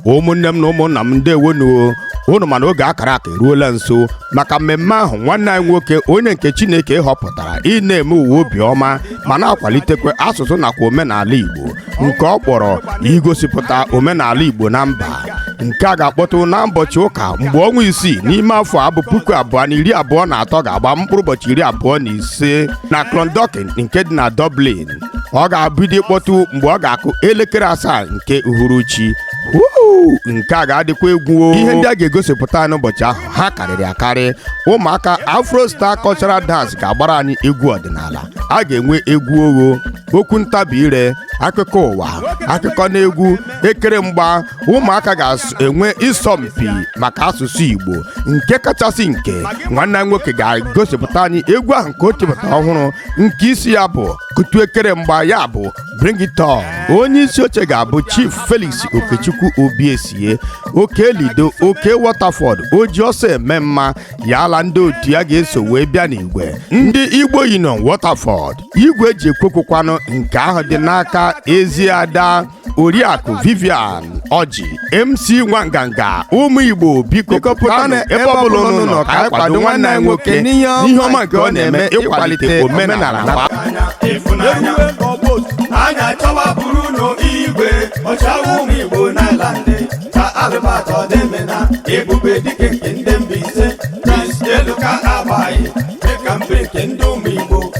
ụmụnne m na ụmụnna m ndewonụ o unu ma na oge a kara aka eruola nso maka mmemme ahụ nwanne anyị nwoke onye nke chineke họpụtara ị na-eme ụwa obiọma ma na-akwalitekwa asụsụ nakwa omenala igbo nke ọ kpọrọ igosipụta omenala igbo na mba nke a ga-akpọtụ na ụbọchị ụka mgbe ọnwa isii n'ime afọ a bụ puku abụọ na iri abụọ na atọ ga-agba mkpụrụ ụbọchị iri abụọ na ise na Clondalkin nke dị na Dublin ọ ga-abido ịkpọtụ mgbe ọ ga-akụ elekere asaa nke uhuruchi Woo! nke a ga-adịkwa egwu o. ihe ndị a ga-egosipụta n'ụbọchị ahụ ha karịrị akarị ụmụaka afro star cultural dance ga-agbara anyị egwu ọdịnala a ga-enwe egwu ogho okwu ntabi ire akụkọ ụwa akụkọ na egwu ekere mgba ụmụaka ga-enwe ịsọmpi maka asụsụ Igbo nke kachasị nke nwanne anyị nwoke ga-egosipụta anyị egwu ahụ nke o tipụtara ọhụrụ nke isi ya bụ kutu ekere mgba ya bụ bring it on onye isi oche ga-abụ Chief Felix Okechukwu Obiesie Okelido Oke Waterford oji ọsọ eme mma ya la ndị otu ya ga-eso wee bịa n'igwe ndị Igbo Union Waterford igwe e ji ekwu okwu kwanụ nke ahụ dị n'aka ezi ada oriakụ vivian oji mc nwanganga ụmụ igbo biko pụtanụ ebe ọbụla unu nọ ka anyị kwado nwanne anyị nwoke n'ihe ọma nke ọ na-eme ịkwalite omenala na anya chọwa bụrụ ụlọ igwe ọchịagha ụmụ igbo n'ireland ka albert odoemena ebube dike nke ndị mbaise prince eluka agbaghị dịka mbe nke ndị ụmụ igbo